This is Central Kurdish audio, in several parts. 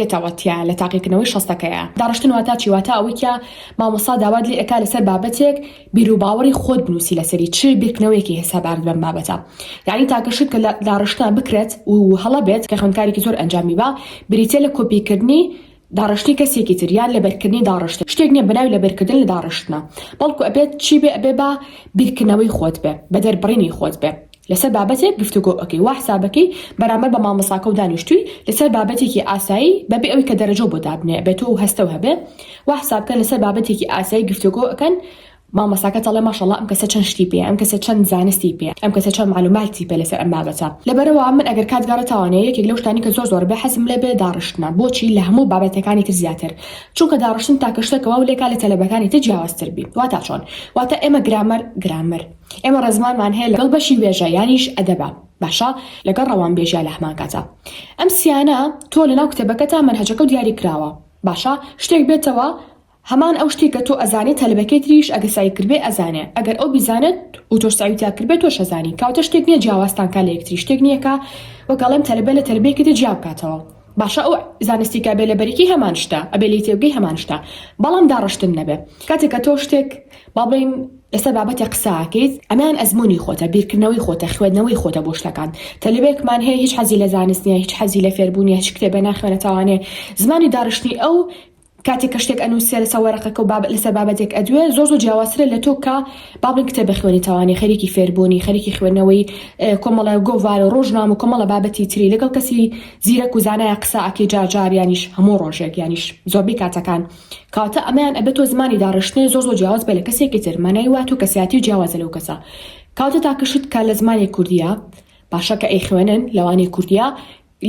یەتەوە تیا لە تاقیکردنەوەی شەستەکەیا. داڕشتن واتا چی؟ واتا ئەوەی کە مامۆستا داوات لێ ئەکا لەسەر بابەتێک بیروباوەڕی خۆت بنووسی لەسەری چ بیرکردنەوەیەکی هەساباند بەم بابەتە یانی تاکە شت کە لە داڕشتە بکرێت و هەڵە بێت کە خوێندکارێکی زۆر ئەنجامی با بریتیە لە کۆپیکردنی داڕشتنی کەسێکی تر یان لەبەرکردنی داڕشتن شتێک نیە بەناوی لەبەرکردن لە داڕشتنە بەڵکو ئەبێت چی بێ ئەبێ با بیرکردنەوەی خۆت بێ بە دەربڕینی خۆت بێ لەسەر بابەتێک گفتوگۆ ئەکەی وا حسابەکەی بەرامبەر بە مامۆستاکەو دانیشتووی لەسەر بابەتێکی ئاسایی بەبێ ئەوی کە دەرەجەو بۆ دابنێ بێتۆ و هەستەو هەبێ وا حسابکە لەسەر بابەتێکی ئاسایی گفتوگۆ ئەکەن مامۆستاکەت ئەڵێ ماشااللە ئەم کەسە چەند شتی پێیە ئەم کەسە چەند زانستی پێیە ئەم کەسە چەند معلوماتی پێ لەسەر ئەم بابەتە لەبەرئەوا من ئەگەر کات گەڕێ تاوانە یەکێک لەو شتانەی کە زۆر زۆر بێ حەزم لێ بێ داڕشتنە بۆچی لە هەموو بابەتەکانی تر زیاتر چونکە داڕشتن تاکە شتە کە واو لێکا لە تەلەبەکانی تر جیاوازتر بی واتا چۆن واتا ئێمە گرامەر گرامەر ئێمە ڕێزمانمان هەیە لەگەڵ بەشی وێژە یانیش ئەدەبە باشە لەگەڵ ڕەوانبێژیا لەهەمان کاتا ئەم سیانە تۆ لەناو کتێبەکەتا مەنهەجەکەو دیاری کراوە باشە شتێک بێتەوە هەمان ئەو شتێکە تۆ ئەزانێ تەلەبەکەی تریش ئەگە سەعی کردبێ ئەزانێ ئەگەر ئەو بیزانێت و تۆش سەعی تیا کردبێ تۆش ئەزانی کەواتە شتێک نیە جیاوازتان کا لە یەکتری شتێک نیە کا وەک ئەڵێم تەلەبە لە تەلەبەیەکەدی جیا بکاتەوە باشە ئەو زانستی کە بێ لەبەریکی هەمان شتە ئەبێ لی تێبگەی هەمان شتە بەڵام داڕشتن نەبێ کاتێک کە تۆ شتێک باڵین لەسەر بابەتێک قساکەیت ئەمان ئەزمموی خۆتە بیرکردنەوەی خۆتە خوێندنەوەی خۆتە بۆ شتەکان تەلبێکمان هەیە هیچ حەزی لە زانستنیە هیچ حەزی لە فێربوونیە هیچ کتێبێ ناخوێنەتەوانێ زمانی داڕشتنی ئەو کاتێک کە شتێک ئەنوسێ لەسەر وەرەقەکە و باب لەسەر بابەتێک ئەدوێ زۆر زۆر جیاوازترە لە تۆ کە با بڵێین کتێبە خوێنیتەوانی خەریکی فێربوونی خەریکی خوێندنەوەی کۆمەڵە گۆڤار و ڕۆژنامە و کۆمەڵە بابەتی تری لەگەڵ کەسی زیرەک و زانایە قسە ئەکەی جار جار یانیش هەموو ڕۆژێک یانیش زۆربەی کاتەکان کەواتە ئەمەیان ئەبێت تۆ زمانی داڕشتنێ زۆر زۆر جیاواز بێ لە کەسێکی تر مانای وا تۆ کەسیاتی و جیاوازە لەو کەسە کاتە تاکە شت کە لە زمانی کوردیە باشە کە ئەیخوێنن لەوانی کوردیە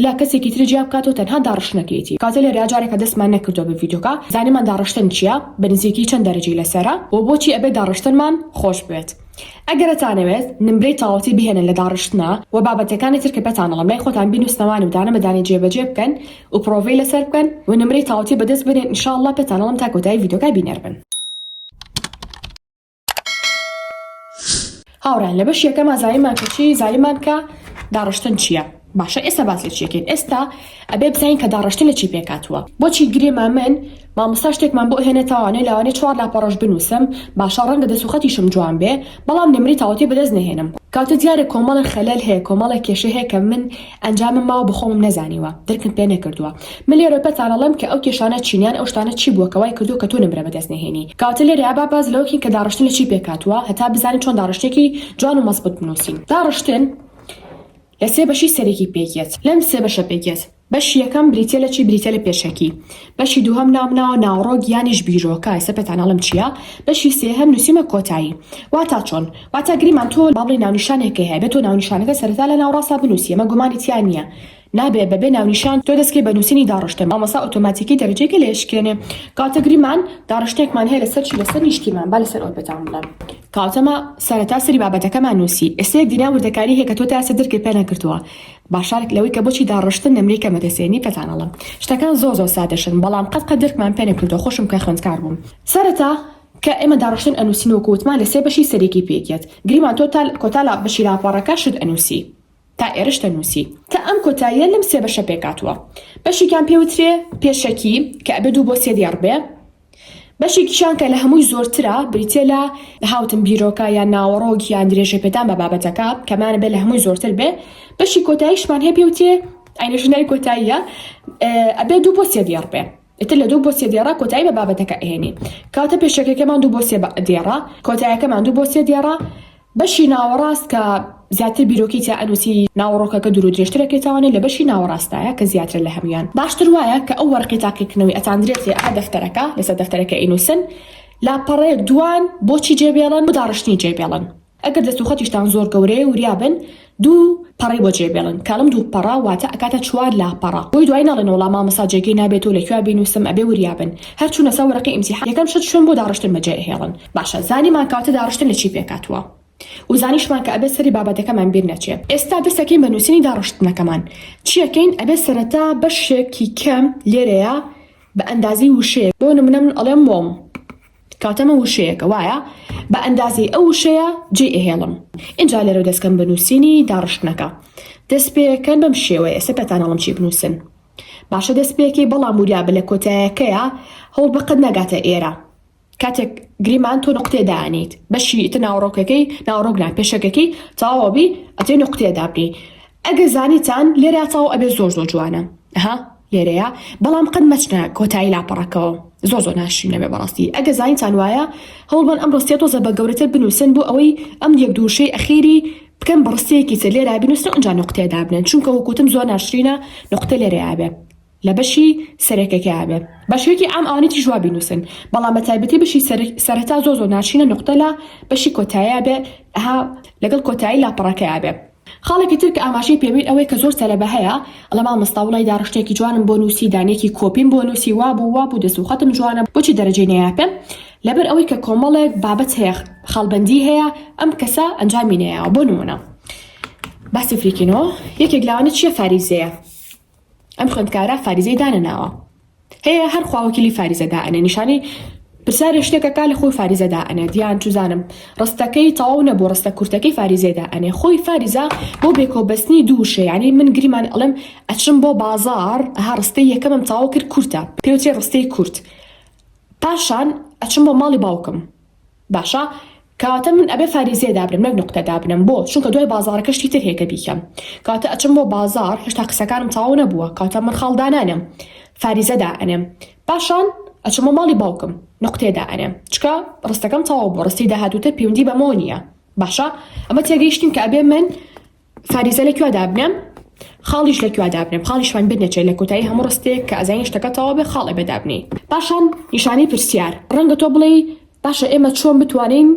لە کەسێکی تر جیا بکاتەوە تەنها داڕشتنەکەیەتی کاتە لێرەیا جارێکە دەستمان نەکردوە بە ڤیدۆکە زانیمان داڕشتن چیە بە نزیکی چەند دەرەجەی لەسەرە وە بۆچی ئەبێت داڕشتنمان خۆش بوێت ئەگەر ئەتانەوێت نمرەی تەواوەتی بهێنن لە داڕشتنا وە بابەتەکانی تر کە پێتان ئەڵێم لای خۆتان بینوسنەوانە و دانە بەدانەی جێ بەجێ بکەن و پڕۆڤەی لەسەر بکەن و نمرەی تاوەتی بەدەست بێنن ان شاء اللە پێتان ئەڵێم تا کۆتایی ڤیدۆکە بینەر بن. هاوڕێیان لە بەش یەکەما زایمان کە چی زایمان کە داڕشتن چییە باشە ئێستا باس لە چیەکەین ئێستا ئەبێ بزانین کە داڕشتن لە چی پێکاتوە بۆچی گرێما من مامۆستا شتێکمان بۆ هێنێتوانێ لاوانێ چوار لاپەڕۆژ بنووسم باشە ڕەنگە دەسوخەتیشم جوان بێ بەڵام نمری تاوتێ بەدەست نهێنم کاتە دیارە کۆمەڵە خەلەل هەیە کۆمەڵە کێشە هەیە کە من ئەنجامم ماوە بە خۆمم نەزانیوە درکم پێ نەکردووە من لێرۆ پێتان ئەڵێم کە ئەو کێشانە چین یان ئەو شتانە چی بووە کە وای کردووە کە تۆ نمرە بەدەست نەهێنی کەواتە لێرە با باس لەوە کەین کە داڕشتن لە چی پێک هاتووە هەتا بزانین چۆن داڕشتێکی جوان و مەزبووت بنووسین داڕشتن لە سێ بەشی سەرەکی پێک یەت لەم سێ بەشە پێک یەت بەشی یەکەم بریتیە لە چی بریتیە لە پێشەکی بەشی دووهەم نامناوە ناوەڕۆک یانیش بیرۆکە ئێستا پێتان ئەڵێم چیە بەشی سێهەم نوسیومە کۆتایی واتا چۆن واتا گریمان تۆ با بڵێی ناونیشانێک کە هەیە بێ تۆ ناونیشانەکە سەرەتا لە ناوەڕاستا بنوسی ئەمە گومانی تیا نیە نابێ بەبێ ناونیشان تۆ دەسکەی بە نوسینی داڕشتە مامۆستا ئۆتۆماتیکی دەرەجەی کە لێشکێنێ کاتە گریمان داڕشتێکمان هەیە لەسەر چی لەسەر نیشتیمان با لەسەر ئەوە پێتان بڵێم کاتەمە سەرەتا سەری بابەتەکەمان نوسی ئێستا یەک دینا وردەکاری هەیە کە تۆ تا ئێستا درکت پێ نەکردووە باشارێک لەوەی کە بۆچی داڕشتن نمرەی کەمە دەسێنی پێتان ئەڵێم شتەکان زۆر زۆر سادەشن بەڵام قەت قەت درکمان پێ نەکردووە خۆشم کە خوێندکار بووم سەرەتا کە ئێمە داڕشتن ئەنووسین وەکو وتمان لە سێ بەشی سەرێکی پێک یەت گریمان تۆ تا کۆتا لە بەشی راپەڕەکە شت ئەنووسی تا ئێرش دەنووسی تا ئەم کۆتاییە لەم سێ بەشە پێکهاتووە بەشێکیان پێ وترێ پێشەکی کە ئەبێ دوو بۆ سێ دێڕ بێ بەشێکیشیان کە لە هەمووی زۆرترە بریتیە لە هاوتن بیرۆکە یان ناوەڕۆک یان درێژەپێدان بە بابەتەکە کەمانە بێ لە هەمووی زۆرتر بێ بەشی کۆتاییشمان هەیە پێوتێ ئەینەش ناوی کۆتاییە ئەبێ دوو بۆ سێ دێڕ بێ ئتر لە دوو بۆ سێ دێڕا کۆتایی بە بابەتەکە ئێنی کاتە پێشەکەکەمان دوو بۆ سێ دێڕا کۆتایەکەمان دوو بۆ سێ دێڕا بەشی ناوەڕاست کە زیاتر بیرۆکەی تیا ئەنوسی ناوەڕۆکەکە دورو درێژترە پێتاوانێ لە بەشی ناوەڕاستایە کە زیاترە لە هەمویان باشتر وایە کە ئەو وەرقەی تاقیکردنەوەی ئەتاندرێتێ ئەمە دەفتەرەکە لەسەر دەفتەرەکە ئەینوسن لاپەڕەیەک دوان بۆچی جێبێڵن بۆ داڕشتنی جێبێڵن ئەگەر دەست و خەتیشتان زۆر گەورەیە وریا بن دوو پەڕەی بۆ جێ بێڵن کەڵم دوو پەڕە واتە ئەکاتە چوار لاپەڕە بۆی دوای نەڵێن وەڵا مامۆستا جێگەی نابێت و لەکوێ بینوسم ئەبێ وریابن هەر چونە سەر وەرەقەی ئیمتیحان یەکەم شت شوێن بۆ داڕشتن بەجێ ئەهێڵن باشە زانیمان کەواتە داڕشتن لەچی پێکاتوە و زانیشمان کە ئەبێ سەری بابەتەکەمان بیر نەچێ ئێستا دەسەکەین بە نوسینی داڕشتنەکەمان چیەکەین ئەبێ سەرەتا بەشێکی کەم لێرەیە بە ئەندازەی وشەیەک بۆ نمونە من ئەڵێم وۆم کاتەمە وشەیەکە وایە بە ئەندازەی ئەو وشەیە جێی ئەهێڵم ئینجا لێرەو دەستکەم بە نووسینی داڕشتنەکە دەست پێکەن بەم شێوەیە ئێستا پێتان ئەڵم چی بنووسن باشە دەست پێکەی بەڵام وریا بە لە کۆتایەکەیە هەوڵ بەقەت ناگاتە ئێرە کاتێک گریمان تۆ نقطێ دانیت بەشی ئیتە ناوەڕۆکەکەی ناوەڕۆکنا پێشەکەکەی تەواوەبی ئەتێ نقطێ دابنی ئەگەر زانیتان لێرا تاو ئەبێ زۆر زۆر جوانە ها لێرەیە بەڵام قەت مەچنە کۆتایی لاپەڕەکەوە زۆر زۆر ناشرینە بێ بەڕاستی ئەگە زانیتان وایە هەوڵبەن ئەم ڕستە تۆزە بە گەورەتر بنووسن بۆ ئەوەی ئەم یەک دووشەی ئەخیری بکەن بە ڕستەیەکی تر لێرا بنووسن و ئەنجا نقطەیە دابنێن چونکە وەکوتم زۆر ناشرینە نقطە لێرەیا بێ لە بەشی سەرەکەکەیا بێ بە شێوەیەکی عام ئەوانێکی جواب بنووسن بەڵام بە تایبەتی بەشی سەرەتا زۆر زۆر ناشرینە نقطە لە بەشی کۆتاییا بێ ها لەگەڵ کۆتایی لاپەڕەکەیا بێ خاڵێکی تر کە ئاماژەی پێبین ئەوەی کە زۆر سەرەبە هەیە ئەڵێ مامۆستا وڵای داڕشتێکی جوانم بۆ نووسی دانەیەکی کۆپیم بۆ نووسی وابوو وابوو دەست و خەتم جوانە بۆچی دەرەجەی نەیاپێم لەبەر ئەوەی کە کۆمەڵێک بابەت هەیە خاڵبەندی هەیە ئەم کەسە ئەنجامی نەیاوە بۆ نمونە باسی فریکینۆ یەکێک لەوانە چیە فاریزەیە ئەم خوێندکارە فاریزەی دانەناوە هەیە هەر خوا وەکیلی فاریزە دائەنێ نیشانی پرسیارێ شتێکەکە لە خۆی فاریزە دائەنێ دیان چوزانم ڕستەکەی تەواو نەبوو ڕستە کورتەکەی فاریزە دائەنێ خۆی فاریزە بۆ بێکۆبەستنی دوو شێ یعنی من گریمان ئەڵێم ئەچم بۆ بازاڕ ها ڕستەی یەکەمم تەواو کرد کورتە پێوترێ ڕستەی کورت پاشان ئەچم بۆ ماڵی باوکم باشە کەواتە من ئەبێ فاریزیە دابنم نەک نوقتە دابنم بۆ چونکە دوای بازاڕەکە شتی تر هێکە بیکەم کەواتە ئەچم بۆ بازاڕ هێشتا قسەکانم تەواو نەبووە کەواتە من خاڵ دانانێم فاریزە دائەنێم پاشان ئەچمە ماڵی باوکم نقطێ دائەنێم چکە ڕستەکەم تەواو بۆ ڕستی داهاتوتر پەیوەندی بەمەوە نییە باشە ئەمە تێگەیشتین کە ئەبێ من فاریزە لەکوا دابنێم خاڵیش لەکوا دابنێم خاڵیشمان بنەچێت لە کۆتایی هەموو ڕستێک کە ئەزانی شتەکە تەواو بێ خاڵێ بەدابنێی پاشان نیشانەی پرسیار ڕەنگە تۆ بڵێی باشە ئێمە چۆن بتوانین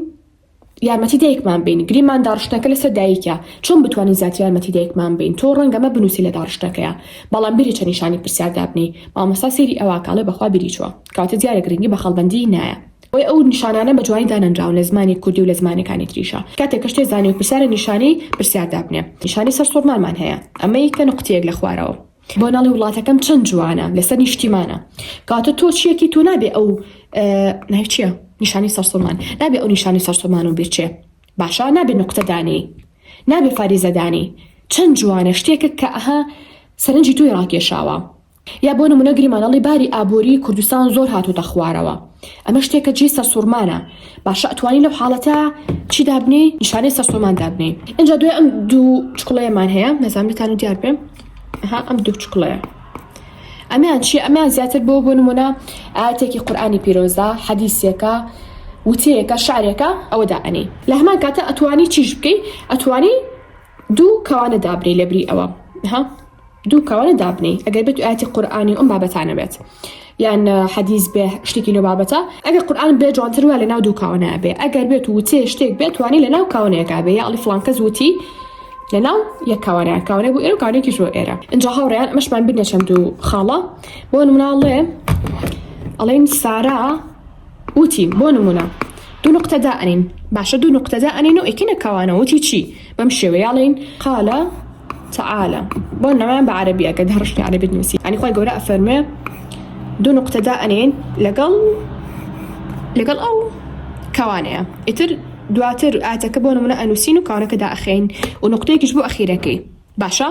یارمەتی دایکمان بین گریمان داڕشتەکە لەسەر دایکە چۆن بتوانین زیاتر یارمەتی دایکمان بین تۆ ڕەنگەمە بنووسی لە داڕشتەکەیە بەڵام بیری چە نیشانی پرسیار دابنی مامۆستا سێری ئەوە کاڵێ بەخوا بیری چوە کاتە دیارە گرنگی بە خەڵبەندی نایە بۆیە ئەو نیشانانە بە جوانی دانەنراون لە زمانی کوردی و لە زمانەکانی تریشا کاتێک کە شتێ زانی و پرسیارە نیشانەی پرسیار دابنێ نیشانەی سەر سوڕمانمان هەیە ئەمەی کە نوقتەیەک لە خوارەوە بۆ ناڵی وڵاتەکەم چەند جوانە لەسەر نیشتیمانە کەواتە تۆ چیەکی تۆ نابێ ئەو ناوی چیە نیشانی سەرسوڕمان نابێ ئەو نیشانی سەرسوڕمان و بیرچێ باشە نابێ نوقتە دانی نابێ فاریزەدانی چەند جوانە شتێکە کە ئەها سەرنجی تۆی ڕاکێشاوە یا بۆ نمونە گریمان ئەڵی باری ئابوری کوردستان زۆر هاتۆتە خوارەوە ئەمە شتێکە جێی سەرسوڕمانە باشە ئەتوانی لەو حاڵەتە چی دابنی نیشانەی سەرسومان دابنی ئەجا دوێ ئەم دوو چکڵەیەمان هەیە نەزانام لەتان و دیار بێم ها ئەم دوو چکڵەیە ئەمیان چی ئەمیان زیاتر بۆ بۆ نمونە ئاتێکی قورآانی پیرۆزە حەدیسێکە وتەیەکە شارێکە ئەوەدا ئەنی لە هەمان کاتە ئەتوانی چیش بکەی ئەتوانی دوو کەوانە دابنێی لەبری ئەوە ها دوو کەوانە دابنێی ئەگەر بێت ئاتی قورآانی ئەم بابەتانە بێت یان حەدیز بێ شتێکی لە بابەتە ئەگەر قورآان بێ جوانتر وە لە ناو دوو کاوانە بێ ئەگەر بێت و وتێ شتێک بێت توانی لە ناو کاونەیەکا بێ یاڵی فلانکە زووتی لە ناو یەکاوانە کاوانە بۆ ئێرە کاانێکی شۆ ئێرە ئەجا هاوڕێیان مەشمان بنە چەند و خاڵە بۆ مناڵێ ئەڵێن سارا وتی، بۆ نموونە، دوو نوقتە دائەنێین، باشە دوو نوقتە دائەنێین و ئەیکەینە کاوانە، وتی چی؟ بەم شێوەیە ئەڵێین، قال تعالی، بۆ نموونە بە عەرەبی ئەگەر دەڕشتنی عەرەبیت نووسی، یانی خوای گەورە ئەفەرموێ، دوو نوقتە دائەنێین لەگەڵ لەگەڵ ئەو کاوانەیە، ئیتر دواتر ئایەتەکە بۆ نموونە ئەنووسین و کاوانەکە دائەخەین و نوقتەیەکیش بۆ ئەخیرەکەی. باشە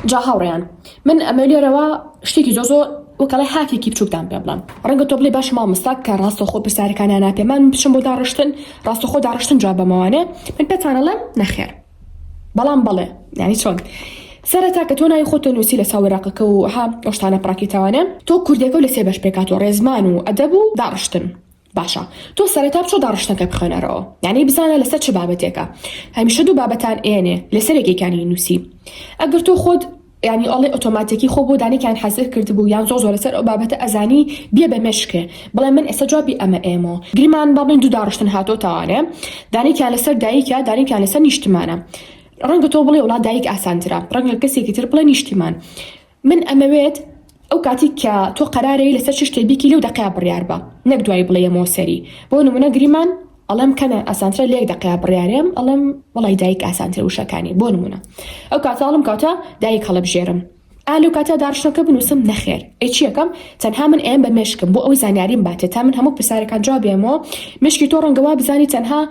جا هاوڕێیان من ئەمە لێرەوە شتێکی زۆ زۆ وەکەڵی هاکێکی بچووکدان پێ بڵم ڕەنگە تۆ بڵێ باش مامۆستاک کە ڕاستەخۆ پرسیارەکانیان ناپێمان بچم بۆ داڕشتن ڕاستەخۆ داڕشتن جواب بەمەوانێ من پێتانەڵێم نەخێر بەڵام بەڵێ یعنی چۆن سەرەتا کە تۆ ناوی خۆتە نووسی لە ساوەراقەکە و ها ئۆشتانە پڕاکیتاوانە تۆ کوردەکە و لە سێ بەش پێکات و ڕێزمان و ئەدەب و داڕشتن باشە تۆ سەرەتا بچۆ داڕشتنەکە بخوێنەرەوە یانەی بزانە لەسەر چ بابەتێکە هەمیشە دوو بابەتان ئێنێ لەسەر یەکێکانی نووسی ئەگەر تۆ خۆت ینی ئەڵێ ئۆتۆماتیکی خۆ بۆ دانێکیان حەزر کردبوو یان زۆر زۆر لەسەر ئەو بابەتە ئەزانی بێ بە مێشکێ بڵێ من ئێستا جوابی ئەمە ئێمەوە گریمان با بڵین دوو داڕشتن هاتۆ تاوانێ دانێکیان لەسەر دایکە دانێکیان لەسەر نیشتمانە ڕەنگە تۆ بڵێ وڵات دایک ئاسانترە ڕەنگە کەسێکی تر بڵێ نیشتیمان من ئەمەوێت ئەو کاتی کە تۆ قەرارەی لەسەر چ شتێ بیکی لەو دەقەیا بڕیار بە نەک دوای بڵێ یەمەوە سەری بۆ نمونە گریمان ئەڵێم کەنە ئاسانترە لەیەک دەقەیا بڕیارێم ئەڵێم وەڵای دایک ئاسانترە وشەکانی بۆ نمونە ئەو کاتە ئەڵم کاتە دایک هەڵەبژێرم ئا لەو کاتە داڕشتنەکە بنووسم نەخێر ئەی چیەکەم تەنها من ئەیەم بە مێشکم بۆ ئەوەی زانیاریم باتێ تا من هەموو پرسارەکان جواب بێمەوە مێشکی تۆ ڕەنگە وا بزانی تەنها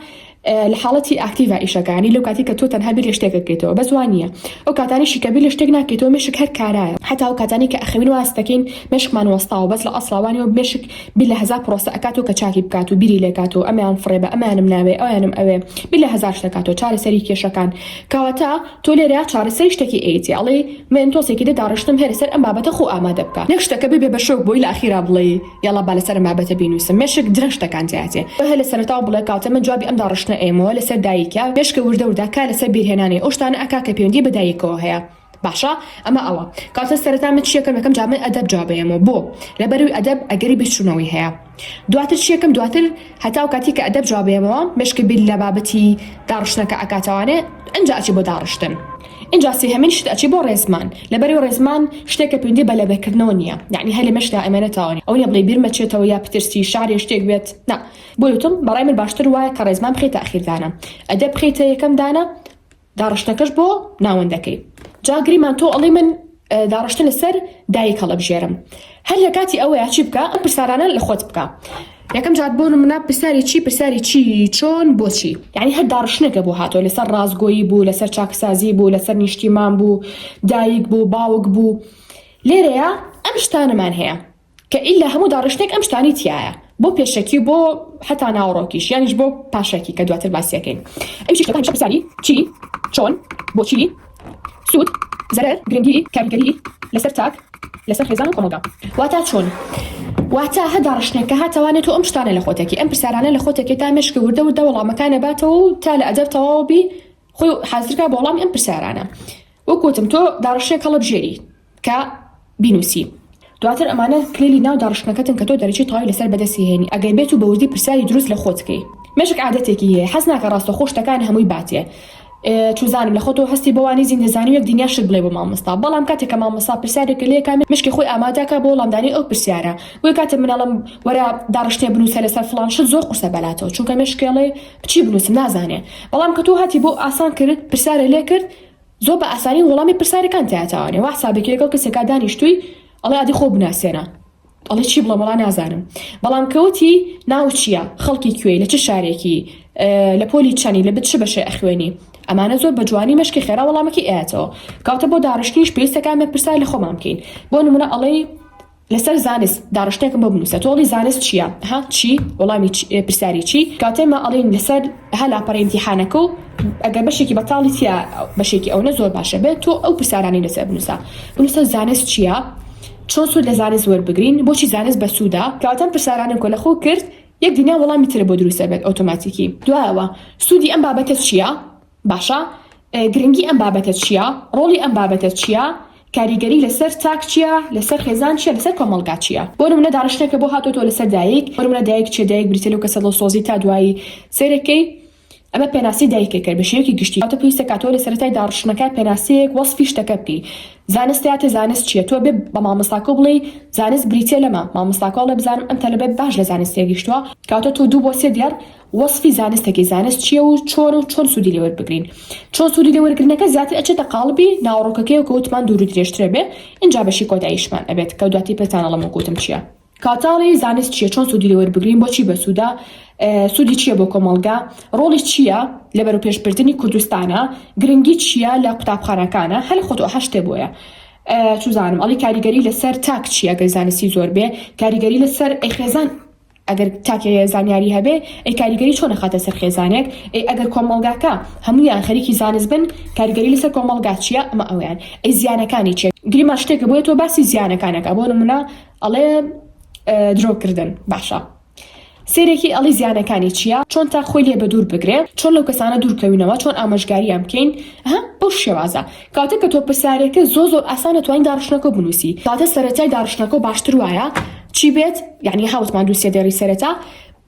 لە حاڵەتی ئاکتیڤا ئیشەکانی لەو کاتی کە تۆ تەنها بیر لە شتێک دەکەیتەوە بەس وا نییە ئەو کاتانیشی کە بیر لە شتێک ناکەیتەوە مێشک هەر کارایە حەتا ئەو کاتانەی کە ئەخەوین وا هەست دەکەین مێشکمان وەستاوە بەس لە ئەسڵا وا نییە و مێشک بیر لە هەزار پڕۆسە ئەکاتەوە کە چاکی بکات و بیری لێ کاتەوە ئەمیان فڕێ بە ئەمیانم ناوێ ئەویانم ئەوێ بیر لە هەزار شت ئەکاتەوە چارەسەری کێشەکان کەواتە تۆ لێرە چارەسەری شتەکی ئەیەتی ئەڵێی مێنتۆسێکی دە داڕشتم هێرە سەر ئەم بابەتە خۆو ئامادە بکە نەک شتەکە ببێ بە شۆک بۆی لە ئەخیرا بڵێی یەڵا با لەسەر ئەم بابەتە بینووسم مێشک درەشتەکان جیاجێ بهە لە سەرەتاوە بڵێ کاتێ من جوابی ئەم داڕشتنە ئەیەمەوە لەسەر دایکە مێشکە وردە وردە کار لەسەر بیرهێنانێ ئەو شتانە ئەکا کە پێوەندی بە دایکەوە هەیە باشە ئەمە ئەوە کاتە سەرەتا من چیەکەم یەکەم جا من ئەدەب جواب ئەیەمەوە بۆ لە بەروی ئەدەب ئەگەری بیرچوونەوەی هەیە دواتر چیەکەم دواتر هەتاو کاتی کە ئەدەب جواب ئەیەمەوە مێشکە بیر لە بابەتی داڕشتنەکە ئەکاتەوانێ ئەنجا ئەچێ بۆ داڕشتن ئینجا سێهەمین شت ئەچێ بۆ ڕێزمان لەبەرئەوەی ڕێزمان شتێکە پەیوەندی بە لەبەرکردنەوە نییە یەعنی هەر لەمێشکدا ئەمێنێتەوە ئەوە نییە بڵێی بیرمە چێتەوە یا پترسی شعر یا شتێک بێت نا بۆیە وتم بەڕای من باشتر وایە کە ڕێزمان بخەیتە ئەخیر دانە ئەدەب بخەیتە یەکەم دانە داڕشتنەکەش بۆ ناوەندەکەی جا گریمان تۆ ئەڵێی من داڕشتن لە سەر دایک هەڵەبژێرم هەر لە کاتی ئەوەیە چی بکە ئەم پرسارانە لە خۆت بکە یەکەم جار بۆ منە پرسیاری چی پرسیاری چی چۆن بۆچی یعنی هەر داڕشتنەکە بۆ هاتۆ لەسەر ڕاستگۆیی بوو لەسەر چاکسازی بوو لەسەر نیشتیمان بوو دایک بوو باوک بوو لێرەیە ئەم شتانەمان هەیە کە ئیلا هەموو داڕشتنێک ئەم شتانەی تیایە بۆ پێشەکی و بۆ حەتا ناوەڕۆکیش یانیش بۆ پاشەکی کە دواتر باسیەکەین ئەویش کە هەمیشە پرسیاری چی چۆن بۆچی سوود زەرەر گرنگی کاریگەری لەسەر تاک لەسەر خێزان و کۆمەڵگا واتا چۆن واتا هەر داڕشتنێک کە هاتەوانێت و ئەم شتانە لە خۆتێکی ئەم پرسیارانە لە خۆتێکی تا مشکی وردە وردە وەڵامەکانە باتەوە و تا لە ئەدەر تەواو بی خۆی حازرکا بۆ وەڵامی ئەم پرسیارانە وەکوتم تۆ داڕشتنێک هەڵەبژێری کە بینوسی دواتر ئەمانە کلیلی ناو داڕشتنەکەتن کە تۆ دەرەجەی تەواوی لەسەر بەدەست هێنی ئەگەر بێت و بەوردی پرسیاری دروست لە خۆت کەی مێشک عادەتێکی هەیە حەز ناکە ڕاستەخۆ شتەکان هەمووی باتێ چوزانم لە خۆتەوە هەستی بۆ وانی زین دەزانی یەک دنیا شت بڵێ بۆ مامۆستا بەڵام کاتێک کە مامۆستا پرسیارێک کە لێ کا مشکی خۆی ئامادەکە بۆ وەڵامدانی ئەو پرسیارە بۆی کاتێ منەڵم وەرە داڕشتێ بنووسە لەسەر فلان شت زۆر قورسە بەلاتەوە چونکە مشکێڵێ بچی بنووسم نازانێ بەڵام کە تۆ هاتی بۆ ئاسان کرد پرسیارە لێ کرد زۆر بە ئاسانی وەڵامی پرسارەکانت ئەتاوانێ وا حسابێکی لەگەڵ کەسێکا دانیشتووی ئەڵێ ئەدی خۆو بناسێنە ئەڵێ چی بڵێم وەڵا نازانم بەڵام کە وتی ناوت چییە خەڵکی کوێی لە چ شارێکی لە پۆلی چەنی لە بت چ بەشێ ئەخوێنی ئەمانە زۆر بە جوانی مەشکی خێرا وەڵامەکی ئاەتەوە کاتە بۆ داڕشتنیش پێویستەکان بە پرسای لە خۆمان بکەین بۆ نمونە ئەڵێی لەسەر زانست داڕشتێکم بۆ بنوسە تۆڵی زانست چیە ها چی وەڵامی پرسیاری چی کاتێمە ئەڵین لەسەر ها لاپەڕی امتحانەکە و ئەگەر بەشێکی بەتاڵی تیا بەشێکی ئەوەنە زۆر باشە بێت تۆ ئەو پرسیارانی لەسەر بنوسە بنوسە زانست چیە چۆن سوود لە زانست وەربگرین بۆچی زانست بەسوودا کاتەم پرسیارانم کۆ لەخۆ کرد یەک دنیا وەڵامی ترە بۆ دروستە بێت ئۆتۆماتیکی دوایەوە سوودی ئەم بابەتە چیە باشە گرنگی ئەم بابەتە چیە؟ ڕۆڵی ئەم بابەتە چیە؟ کاریگەری لەسەر تاک چیە؟ لەسەر خێزان چیە؟ لەسەر کۆمەڵگا چیە؟ بۆ نمونە داڕشتنەکە بۆ هاتۆتەوە لەسەر دایک؟ بۆ نمونە دایک چیە؟ دایک بریتیە لەو کەسە دڵسۆزی تا دوایی سەیرەکەی ئەمە پێناسی دایکەکە بە شێوەیەکی گشتی هاتە پێویستە کاتۆ لە سەرەتای داڕشتنەکە پێناسەیەک وەسفی شتەکە بکەی زانست هاتێ زانست چییە تۆ بێ بە مامۆستاکە بڵێ زانست بریتە لەمە مامۆستاکە بڵێ بزانم ئەم تەلبێت باش لە زانستێک گشتووە کاتۆ تۆ دوو بۆ سێ دیار وەسفی زانستەکەی زانست چیە و چۆن و چۆن سودی لێوەربگرین چۆن سودی لێوەرگرنەکە زیاتر ئەچێتە قاڵبی ناوەڕۆکەکەیەوە کە وتمان دوور و درێژترە بێ ئینجا بەشی کۆتاییشمان ئەبێت کە دواتر پێتان ئەڵێم وەک وتم چیە کاتاڵی زانست چیە چۆن سودی لێوەربگرین بۆچی بەسودە سودی چیە بۆ کۆمەڵگا ڕۆڵی چیە لە بەرەوپێشبردنی کوردستانە گرنگی چیە لە قوتابخانەکانە هەر خۆتۆ ئەحە شتێ بۆیە سوزانم ئەڵی کاریگەری لەسەر تاک چیە گەر زانستی زۆر بێ کاریگەری لەسەر ئەی خێزان ئەگەر تاکێ زانیاری هەبێ ئەی کاریگەری چۆن ئەخاتە سەر خێزانێک؟ ئەی ئەگەر کۆمەڵگاکە هەموویان خەریکی زانست بن کاریگەری لەسەر کۆمەڵگا چیە؟ ئەمە ئەوەیان ئەی زیانەکانی چیە؟ گریمان شتێکە بۆیە تۆ باسی زیانەکان ئەکا بۆ نمونە ئەڵێ درۆ کردن باشە سێرێکی ئەڵی زیانەکانی چیە؟ چۆن تا خۆی لێ بە دوور بگرێ؟ چۆن لەو کەسانە دوور کەوینەوە؟ چۆن ئامۆژگاریان بکەین؟ ها بەو شێوازە. کاتێک کە تۆ پرسیارێکە زۆ زۆر ئاسانە توانی داڕشتنەکە بنووسی کاتە سەرەتای داڕشتنەکە باشتر وایە چی بێت یعنی هاوتمان دووسێ دێری سەرەتا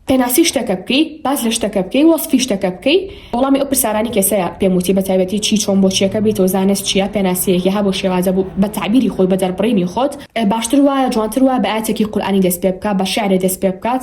پێناسی شتەکە بکەی باز لە شتەکە بکەی وەسفی شتەکە بکەی وەڵامی ئەو پرسیارانی کەسەیە پێم وتی بە تایبەتی چی چۆن بۆ چیەکە بیت و زانست چیە پێناسەیەکی هەبوو شێوازە بوو بە تعبیری خۆی بە دەربڕینی خۆت باشتر وایە جوانتر وایە بە ئاتێکی قورآانی دەست پێ بکە بە شعرێ دەست پێ بکات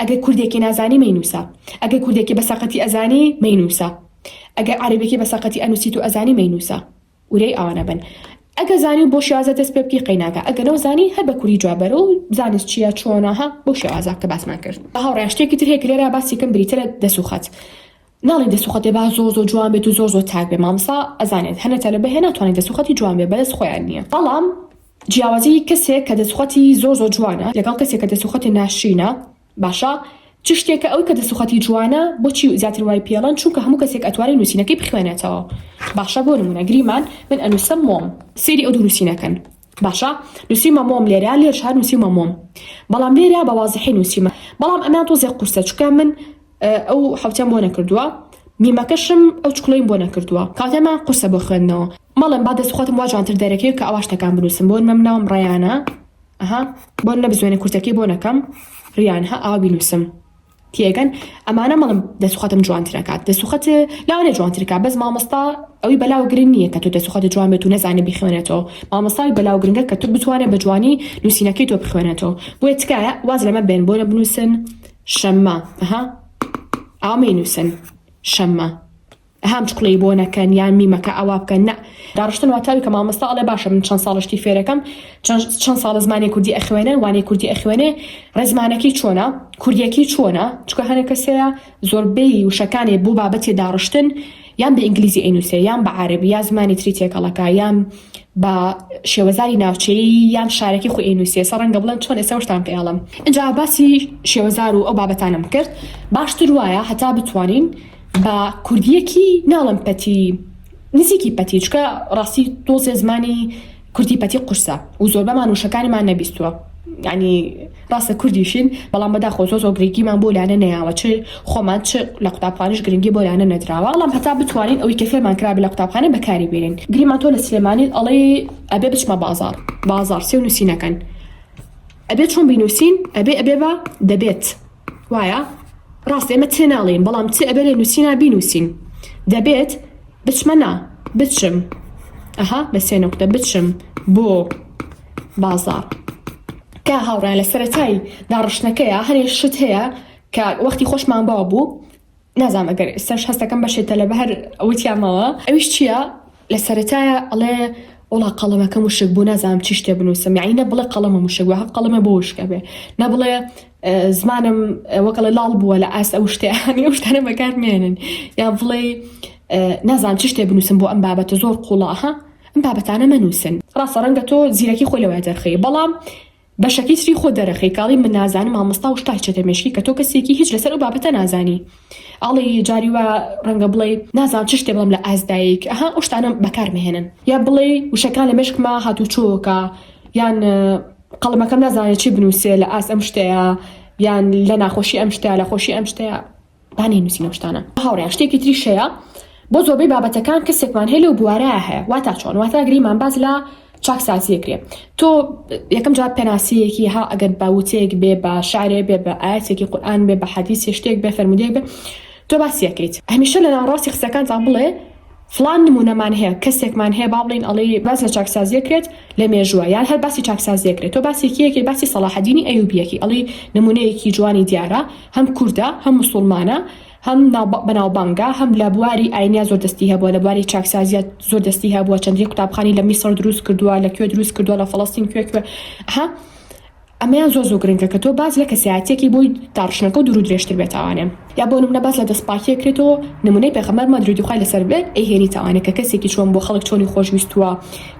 ئەگەر کوردێکێ نازانی مەینووسە ئەگەر کوردێکێ بە سەقەتی ئەزانی مەینووسە ئەگەر عەرەبێکی بە سەقەتی ئەنووسیت و ئەزانی مەینووسە ورەی ئەوانە بن ئەگە زانی و بۆ شێوازە دەست پێ بکەی قەیناکە ئەگە نەو زانی هەر بە کوردی جوابەرە و زانست چییە چۆناها بۆ شێوازە کە باسمان کرد بە هاوڕێیان شتێکی تر هەیە کە لێرە باسێکم بریتە لە دەسوخەت ناڵین دەسوخەتێ با زۆر زۆر جوان بێت و زۆر زۆر تاک بێ مامسا ئەزانێت هەنە تەلبە هەیە ناتوانێت دەسوخەتی جوان بێ بەدەست خۆیان نییە بەڵام جیاوازیی کەسێک کە دەسوخەتی زۆر زۆر جوانە لەگەڵ کەسێک کە دەسوخەتێ ناشرینە باشە چ شتێکە ئەو کە دەسوخەتی جوانە بۆچی زیاتر وای پێڵێن چونکە هەموو کەسێک ئەتوانێ نوسینەکەی بخوێنێتەوە باشە بۆ نمونە گریمان من ئەنوسم مۆم سەیری ئەو دوو نوسینە کەن باشە نوسیومە مۆم لێرە لێرش هەر نوسیومە مۆم بەڵام لێرە بە وازحی نوسیومە بەڵام ئەمیان تۆزێ قورسە چونکە من ئەو حەوتیان بۆ نەکردووە میمەکەشم ئەو چکڵەیم بۆ نەکردووە کاتێما قورسە بۆ خوێندنەوە مەڵێن با دەست خۆتم وا جوانتر دەرەکەوێت کە ئەوا شتەکان بنووسم بۆن مەم ناوم ڕەیانە ئەها بۆن نە بزوێنە کورتەکەی بۆ نەکەم ڕیان ها ئاوا بینووسم تێگەن ئەمانە مەڵم دەسوخەتم جوانترەکات دەسوخەت لاوانێ جوانترکە بەس مامۆستا ئەوی بەلاو گرنگ نییە کە تۆ دەسوخەت جوان بێت و نەزانێ بخوێنێتەوە مامۆستاوی بەلاو گرنگە کە تۆ بتوانێت بە جوانی نووسینەکەی تۆ بخوێنێتەوە بۆیە تکایە واز لەمە بێن بۆ نە بنووسن شەممە، ئەها ئاوا مەینووسن، شەممە. ئەها ئەم چقڵەی بۆ نەکەن یان میمەکە ئاوا بکەن نا داڕشتن واتە ئەوی کە مامۆستا ئەڵێ باشە من چەند ساڵە شتی فێرەکەم چەند چەند ساڵە زمانی کوردی ئەخوێنێ وانەی کوردی ئەخوێنێ ڕێزمانەکەی چۆنە کوردیەکەی چۆنە چکە هەنێک کەسەیە زۆربەی وشەکانێ بۆ بابەتێ داڕشتن یان بە ئینگلیزی ئەینووسێ یان بە عارەبی یا زمانی تری تێکەڵەکە یان بە شێوەزاری ناوچەیی یان شارەکی خۆی ئەینووسێ سە ڕەنگە بڵێن چۆن ئێستا وشتان پێ ئەڵم ئینجا باسی شێوەزار و ئەو بابەتانم کرد باشتر وایە هەتا بتوانین بە کوردیەکی ناڵم پەتی نزیکی پەتی چکە ڕاستی تۆزێ زمانی کوردی پەتی قورسە و زۆربەمان وشەکانمان نەبیستووە یانی ڕاستە کوردیشین بەڵام بەداخۆ زۆر زۆر گرنگیمان بۆ لانە نەیاوە چ خۆمان چ لە قوتابخانیش گرنگی بۆ لانە نەدراوە بەڵام هەتا بتوانین ئەوی کە فێرمان کرابێ لە قوتابخانە بەکاری بێنین گریمان تۆ لە سلێمانیت ئەڵێی ئەبێ بچمە بازاڕ بازاڕ سێ و نووسینەکەن ئەبێ چۆن بینووسین ئەبێ ئەبێ بە دەبێت وایە ڕاستە ئێمە تێناڵین بەڵام چ ئەبێ لێ نووسینا بینووسین دەبێت بچمە نا بچم ئەها بە سێ نقطە بچم بۆ بازار کە هاوڕیان لە سەرەتای داڕشتنەکەیە هەنێ شت هەیە کە وەختی خۆشمان باو بوو نازانم ئەگەر ئێستاش هەستەکەم بەشێ تەلەبە هەر وتیامەوە ئەویش چییە لە سەرەتایە ئەڵێ وڵا قەڵەمەکە مشک بوو نازانم چی شتێ بنووسم یعنی نە بڵێ قەڵەمە مشک وە قەڵەمە بۆ وشکە بێ نە بڵێ زمانم وەکەڵە لاڵ بووە لە ئاست ئەو شتیانی ئەو شتانە بەکار مێنن یا بڵێ نازانم چی شتێ بنووسم بۆ ئەم بابەتە زۆر قوڵاها ئەم بابەتانە مەنووسن ڕاستە ڕەنگە تۆ زیرەکی خۆی لەوە دەرخی بەڵام بەشەکەی تری خۆ دەرەخەی کاڵی من نازانم مامۆستا و شتای چەتە مێشکی کە تۆ کەسێکی هیچ لەسەر ئەو بابەتە نازانی ئەڵێی جاری وا ڕەنگە بڵێی نازانم چ شتێ بڵێم لە ئاست دایک ئەها ئەو شتانە بەکار مەهێنن یا بڵێی وشەکان لە مێشکما هاتوچۆکە یان قەڵەمەکەم نازانێت چی بنووسێ لە ئاست ئەم شتەیە یان لە ناخۆشی ئەم شتە لە خۆشی ئەم شتەیە با نەینوسین ئەو شتانە هاوڕێیان شتێکی تریش هەیە بۆ زۆربەی بابەتەکان کەسێکمان هەیە لەو بوارایە هەیە واتا چۆن واتا گریمان باز لە چاکسازی کرێ تۆ یەکەم جار پێناسەیەکی ها ئەگەر باوتەیەک بێ بە شارێ بێ بە ئاەتێکی قورآان بێ بە حەدیسی شتێک بێ فەرمودێک بێ تۆ باسیەکەیت هەمیشە لە ناوڕاستی قسەکانتان بڵێ فڵان نمونەمان هەیە کەسێکمان هەیە با بڵێین ئەڵێی باس لە چاکسازیەک کرێت لە مێژووە یان هەر باسی چاکسازیەک کرێت تۆ باسی کێ ئەکەی باسی سەڵاحەدینی ئەیوبی ئەکەی ئەڵێی نمونەیەکی جوانی دیارە هەم کوردە هەم موسوڵمانە هەم بەناوبانگە هەم لە بواری ئاینیا زۆر دەستی هەبووە لە بواری چاکسازیە زۆر دەستی هەبووە چەندین قوتابخانی لە میسڕ دروست کردووە لە کوێ دروست کردووە لە فەڵەستین کوێ کوێ ها ئەمەیان زۆر زۆر گرنگە کە تۆ باس لە کەسایەتیەکی بوویت تا ڕشنەکەو دوورو درێژتر بێت ئەوانێ یا بۆ نمونە باس لە دەست پاکیەک کرێتەوە نمونەی پێخەمبەرمان درودی خوای لەسەر بێت ئەیهێنیت ئەوانێ کە کەسێکی چۆن بووە خەڵک چۆنی خۆش ویستووە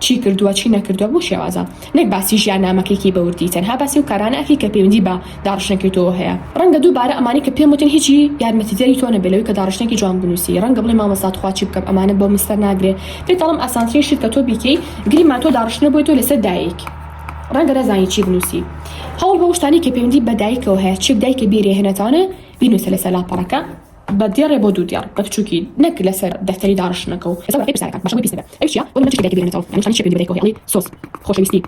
چی کردووە چی نەکردووە بو شێوازە نەک باسی ژیان نامەکەیکی بە وردی تەنها باسی ئەو کارانە ئەکەی کە پەیوەندی بە داڕشنەکەی تۆوە هەیە ڕەنگە دوو بارە ئەمانەی کە پێم وتن هیچی یارمەتی دەری تۆ نەبێ لەوەی کە داڕشنەکی جوان بنوسی ڕەنگە بڵێی مامۆستا تخوا چی بکەم ئەمانە بۆ من سەر ناگرێ پێت ئەڵێم ئاسانترین شت کە تۆ بیکەی گریمان تۆ داڕشنە بۆی تۆ لەسەر دایک ڕەنگە نەزانی چی بنووسی هەوڵ بەو شتانی کە پەیوەندی بە دایکەوە هەیە چێک دایکە بێرێ هێنەتانە بینوسە لەسەر لاپەڕەکە بە دێڕێ بۆ دوو دێڕ بە بچووکی نەک لەسەر دەفتەری داڕشتنەکە و لەسەر ڕێی پرسیارەکان باشە بۆی پیس نەبێ ئەویش چییە؟ بۆ نموونە چ شتێک دایکە بێرێنێتەوە یانی چ شتێک دایکەوە هەیە ئەڵێی سۆز خۆشەویستی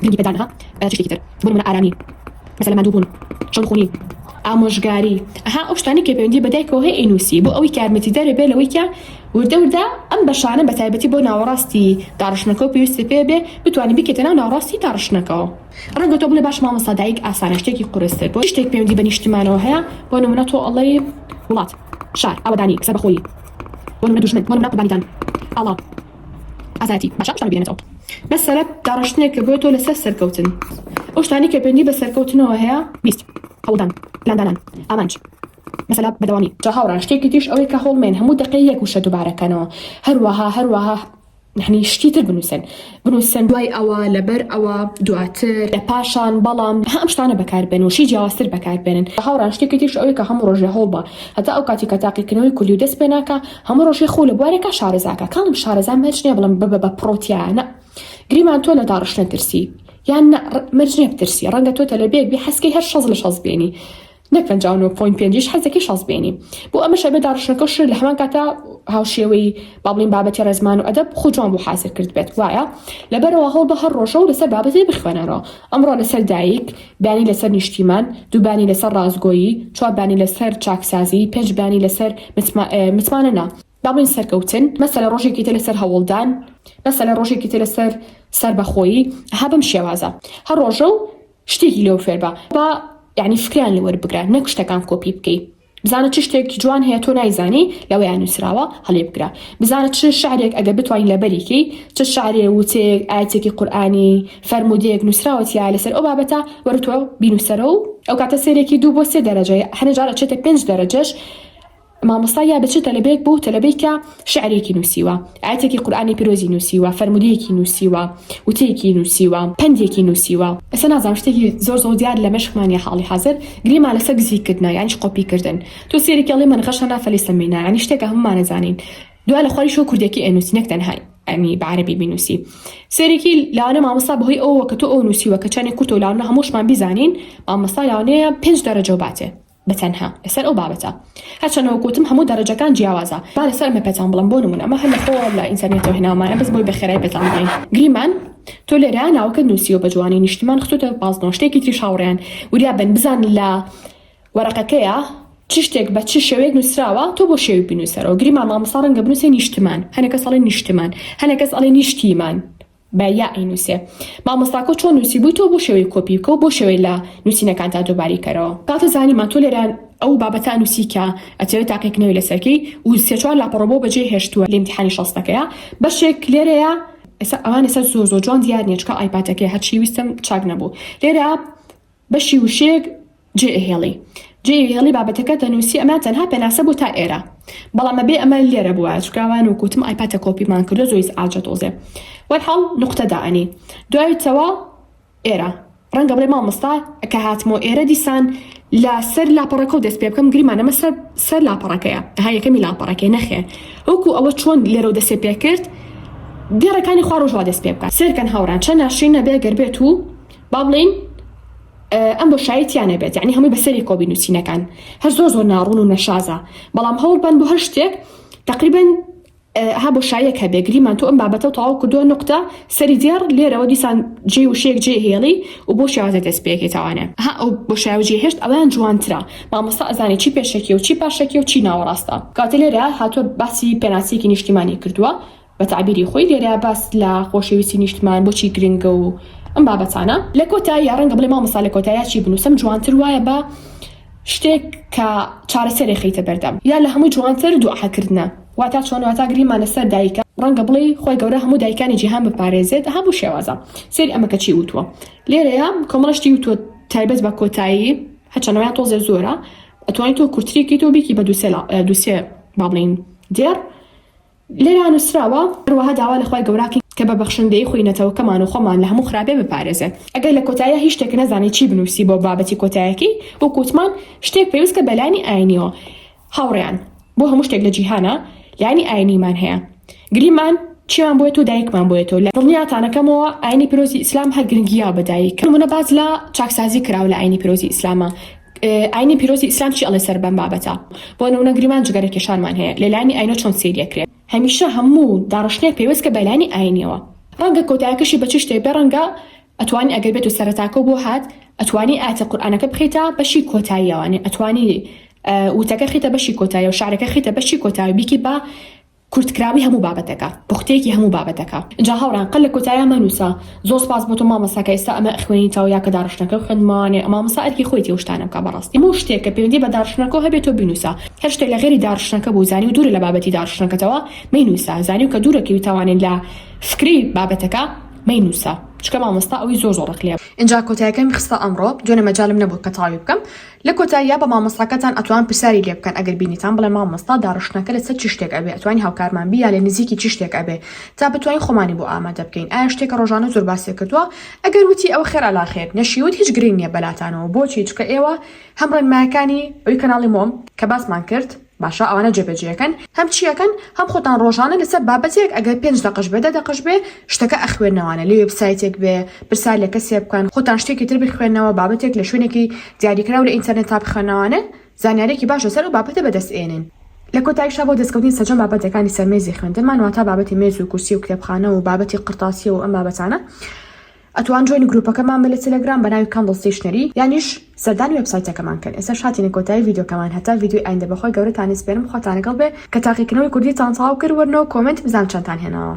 گرنگی پێدان ها چ شتێکی تر بۆ نموونە ئارامی مەسەلەن ماندووبوون چەمخوونی ئامۆژگاری ئەها ئەو شتانەی کە پەیوەندی بە دایکەوە هەیە ئەینووسی بۆ ئەوەی کە یارمەتیدەرێ بێ لەوەی کە وردە وردە ئەم بەشانە بە تایبەتی بۆ ناوەڕاستی داڕشتنەکەو پێویستت پێ بێ بتوانی بیکەیتە ناو ناوەڕاستی داڕشتنەکەوە ڕەنگە تۆ بڵێ باش مامۆستا دایک ئاسانە شتێکی قورستر بۆ شتێک پەیوەندی بە نیشتمانەوە هەیە بۆ نمونە تۆ ئەڵێی وڵات شار ئاوەدانی سەربەخۆیی بۆ نمونە دوژمن بۆ نمونە قوربانیدان ئاڵا ئازایەتی باشە ئەم شتانە بێنێتەوە بەس سەرە داڕشتنێک کە بۆ تۆ لەسەر سەرکەوتن ئەو شتانەی کە پەیوەندی بە سەرکەوتنەوە هەیە بیست هەوڵدان پلاندانان ئامانج. مەسەلە بەدەوامی جا هاوڕان شتێکی تریش ئەوەی کە هۆڵمێن هەموو دەقەی یەک وشە دوبارەکەنەوە هەروەها هەروەها یعنی شتی تر بنووسن بنووسن دوای ئەوە لەبەر ئەوە دواتر لە پاشان بەڵام هەم شتانە بەکاربێن و شی جیاوازتر بەکاربێنن هاوڕان شتێکی تریش ئەوەی کە هەموو ڕۆژێ هەوڵ بە هەتا ئەو کاتی کە تاقیکردنەوەی کولی و دەست پێ ناکە هەموو ڕۆژێ خۆ لە بوارێکە شارەزاکە کاڵم شارەزا مەرج نیە بڵم ببە بە پرۆتیانە گریمان تۆ لە داڕشتن ترسی یان مەرج نیە بترسی ڕەنگە تۆ تەلەبێک بێ حەسکەی هەر شەز لە شەز بێنی نەک پەنجا و نۆ پۆینت پێنجیش حەزدەکەی شەست بێنی بۆ ئەمەش ئەبێ داڕشتنەکە و شرت لە هەمان کاتا هاوشێوەی با بڵێین بابەتی ڕێزمان و ئەدەب خۆ جوان بۆ حازر کرد بێت وایە لەبەرەوە هەوڵ بە هەر ڕۆژە و لەسەر بابەتێ بخوێنەرەوە ئەمڕۆ لەسەر دایک بیانی لەسەر نیشتیمان دووبانی لەسەر ڕاستگۆیی چواربانی لەسەر چاکسازی پێنج بانی لەسەر متمانە نا با بڵێین سەرکەوتن مەسەلە ڕۆژێکی تر لەسەر هەوڵدان مەسەلە ڕۆژێکی تر لەسەر سەربەخۆیی ها بەم شێوازە هەر ڕۆژە و شتێکی لۆ فێربە با یانی فکریان لەوەر بگرە نەک شتەکان کۆپی بکەی بزانە چ شتێک جوان هەیە تۆ نایزانی لەوەیان نووسراوە هەڵێ بگرە بزانە چ شعرێک ئەگە بتوانین لەبەریکەی چ شعرێ وتێک ئاەتێکی قورآانی فەرمودەیەک نووسراوەتیە لەسەر ئەو بابەتە وەرتۆ بینوسەرە و ئەو کاتە سێرێکی دوو بۆ سێ دەرەجەیە هەنێجارە چێتە پێنج دەرەجەش مامۆستا یا بە چ تەلەبەیەک بۆ تەلەبەیکە شعرێکی نووسیوە ئایەتێکی قورئانی پیرۆزی نووسیوە فەرموودەیەکی نووسیوە وتەیەکی نووسیوە پەندێکی نووسیوە ئێستا نازانم شتێکی زۆر زۆر دیار لە مێشکمان نیە حاڵی حازر گرێمان لەسەر گزیک کردنە یانی چ قۆپی کردن تۆ سێرکی ئەڵێی من غەشەنا فەلیسە مینا یانی شتێکە هەموومان ئەزانین دوا لە خواری شۆ کوردێکی ئەنووسی نەک تەنها ئەنی بە عەرەبی بینووسی سێرکی لاوانە مامۆستا بەهۆی ئەوە کە تۆ ئەو نووسیوە کە چانی کورتە و لاوانە هەمووشمان بیزانین مامۆستا لاوانەیە پێنج دەرەجە و باتێ بە تەنها لەسەر ئەو بابەتە هەرچەندە وەک وتم هەموو دەرەجەکان جیاوازە با لەسەر ئەمە پێتان بڵێم بۆ نموونە ئەمە هەر لە خۆ لە ئینتەرنێتەوە هێناومانە بەس بۆی بە خێرای پێتان بڵێین گریمان تۆ لێرە ناوەکەت نووسیوە بە جوانی نیشتمان خستوتە پازنەوە شتێکی تریش هاوڕێیان وریا بن بزانن لە وەرەقەکەیە چ شتێک بە چ شێوەیەک نووسراوە تۆ بۆ شێوی بنووسەرەوە گریمان مامۆستا ڕەنگە بنووسێ نیشتمان هەنێکە سەڵێ نیشتمان هەنێکەس ئەڵێ نیشتیمان بە یا ئەینوسێ مامۆستاکۆ چۆن نوسیبوی تۆ بۆ شێوەی کۆپی بکە و بۆ شێوەی لە نوسینەکانتا تۆباری کەرەوە کاتە زانیمان تۆ لێرە ئەو بابەتە نوسی کە ئەتەوێ تاقی کنەوی لەسەرکەی و سێ چوار لاپەڕە بۆ بەجێ هێشتوە لە ئیمتیحانی شەستەکەیا بەشێک لێرەیە ئێستا ئەوان ئێستا زۆر زۆر جوان دیار نیە چکە ئایپاتەکەی هەرچی ویستم چاک نەبوو لێرە بەشی وشەیەک جێ ئەهێڵی جێ ئەهێڵی بابەتەکەت دەنووسی ئەمە تەنها پێناسە بوو تا ئێرە بەڵام ئەبێ ئەمە لێرە بووە چکە ئەوان وکوتم ئایپاتە کۆپیمان کردو زۆیس ئاجە تۆزێ وەرحاڵ نقطە دائەنی دوای چەوە ئێرە ڕەنگە بڵێ مامۆستا کە هاتمۆ ئێرە دیسان لە سەر لاپەڕەکە و دەست پێ بکەم گریمانەمە سەر سەر لاپەڕەکەیە ها یەکەمی لاپەڕەکەی نەخێر وەکو ئەوە چۆن لێرە و دەسێ پێ کرد دێڕەکانی خوا ڕۆژوا دەست پێ بکات سێرکەن هاوڕان چەند ناشرین نەبێ گەر بێت و با بڵێین ئەم بۆشایی تیا نەبێت یعنی هەمووی بەسەری کۆبی نووسینەکان هەر زۆر زۆر ناڕون و نەشازە بەڵام هەوڵ بەن بۆ هەر شتێک تقریبن ها بۆشاییەک هەبێ گریمان تۆ ئەم بابەتە و تەواو کردووە نقطە سەری دێڕ لێرەوە دیسان جێ وشێک جێ هێڵی و بۆ شێوازە دەست پێکێتوانە ها ئەو بۆ شاوجی هێشت ئەویان جوانترا مامۆستا ئەزانانی چی پێشەکی و چی پاشەکی و چی ناوەڕاستە کاتە لێرە هاتووە باسی پێناسیکی نیشتیمانی کردووە بە تەعبیری خۆی لێرە باس لە خۆشەویستی نیشتمان بۆچی گرنگە و ئەم بابەتانە. لە کۆتا یا ڕەنگە بڵێ مامۆستا لە کۆتا یا چی بنووسم جوانتر وایە بە شتێک کە چارەسەرێ خەیتە بەردەم یا لە هەمووی جوانتر دوعا کردنە واتا چۆن واتا گریمانە سەر دایکە ڕەنگە بڵێ خوای گەورە هەموو دایکانی جیهان بپارێزێت ئەها بو شێوازە سەیری ئەمە کە چی وتووە لێرەیە کۆمەڵە شتی وتووە تایبەت بە کۆتایی هەچەنەوەیان تۆزێ زۆرە ئەتوانیت تۆ کورتریکەی تۆ بێکی بە دووسێ دووسێ با بڵین دێڕ لێرە نووسراوە، هەروەها داوا لە خوای گەوراکەین کە بە بەخشندەیی خۆی نەتەوەکەمان و خۆمان لە هەموو خراپێ بپارێزێت. ئەگەر لە کۆتاییا هیچ شتێک نەزانی چی بنووسی بۆ بابەتی کۆتایەکەی، وەکو وتمان شتێک پێوستکە بە لایەنی ئاینیەوە. هاوڕێیان، بۆ هەموو شتێک لە جیهانا لایەنی ئاینیمان هەیە. گریمان چیمان بۆیە و دایکمان بۆیەت و لە دڵنیاتانەکەمەوە ئاینی پیرۆزی ئیسلام هەر گرنگییە بە دایک. بۆ نموونە باس لە چاکسازی کراوە لە ئاینی پیرۆزی ئیسلاما. ئاینی پیرۆزی ئیسلام چی ئەڵێ سەر بەم بابەتە؟ بۆ نمونە گریمان جگەرە کێشانمان هەیە لە لایەنی ئاینەوە چۆن سەیری ئەکرێ؟ هەمیشە هەموو داڕشتنێک پەیوەستکە بە لایەنی ئاینیەوە ڕەنگە کۆتایەکەشی بە چ شتێک بێ ڕەنگە ئەتوانی ئەگەر بێتو سەرەتاکەو بۆ هات ئەتوانی ئایەتە قورئانەکە بخەیتە بەشی کۆتاییەوە یانی ئەتوانی وتەکە خیتە بەشی کۆتایەوە شعرەکە خیتە بەشی کۆتایەوە بیکی بە کورتکراوی هەموو بابەتەکە پوختەیەکی هەموو بابەتەکە ئینجا هاوڕێیان قەت لە کۆتاییا مەنووسە زۆر سوپاس بۆ تۆ مامۆستا کە ئێستا ئەمە ئەخوێنیتەوە یا کە داڕشتنەکەو خوێندمەوانێ مامۆستا ئەرکی خۆیەتی ئەو شتانە بکا بەڕاستی هەموو شتێک کە پەیوەندی بە داڕشتنەکەو هەبێ تۆ بینووسە هەر شتێک لە غەیری داڕشتنەکە بوو زانیو دوورە لە بابەتی داڕشتنەکەتەوە مەینووسە زانیو کە دوورە کەوی تاوانێ لە فکری بابەتەکە مەینووسە چونکە مامۆستا ئەوی زۆر زۆر ڕق لێ ئینجا کۆتایەکەمی خستە ئەمڕۆ دوێنێ مەجالم نەبوو کە تەواوی بکەم. لە کۆتاییا بە مامۆستاکەتان ئەتوان پرسیاری لێ بکەن ئەگەر بینیتان بڵێن مامۆستا داڕشتنەکە لە سەر چ شتێک ئەبێ ئەتوانی هاوکارمان بی یا لە نزیکی چ شتێک ئەبێ تا بتوانین خۆمانی بۆ ئامادە بکەین ئایا شتێکە ڕۆژانە زۆر باس لێ کردوە ئەگەر وتی ئەوە خێرا لا خێر نەشی وت هیچ گرنگ نیە بەلاتانەوە بۆچی چکە ئێوە هەم ڕێنمایەکانی ئەوی کەناڵی مۆم کە باسمان کرد باشە ئەوانە جێبەجێکەن هەم چیەکەن هەم خۆتان ڕۆژانە لەسەر بابەتێک ئەگەر پێنج دەقەش بێ دە دەقەش بێ شتەکە ئەخوێنەوانە لە وێب سایتێک بێ پرسار لە کەسێ بکەن خۆتان شتێکی تر بخوێنەوە بابەتێک لە شوێنێکی دیاریکراو لە ئینتەرنێتا بخوێنەوانە زانیارێکی باش لەسەر ئەو بابەتە بەدەست ئێنن. لە کۆتایشا بۆ دەستکەوتنی سەرجەم بابەتەکانی سەر مێزی خوێندنمان واتا بابەتی مێز و کورسی و کتێبخانە و بابەتی قڕتاسیە و ئەم بابەتانە، ئەتوان جۆینی گروپەکەمان بە لە تێلێگرام بە ناوی کاندڵ ستەیشنەری یانیش سەردانی وێبسایتەکەمان کەن ئێستاش هاتینە کۆتایی ڤیدیۆکەمان هەتا ڤیدیۆی ئایندە بەخوای گەورەتان ئەسپێرم خواتان لەگەڵ بێ کە تاقیکردنەوەی کوردیتان تەواو کرد وەرنەوە کۆمێنت بزانم چەندتان هێناوە.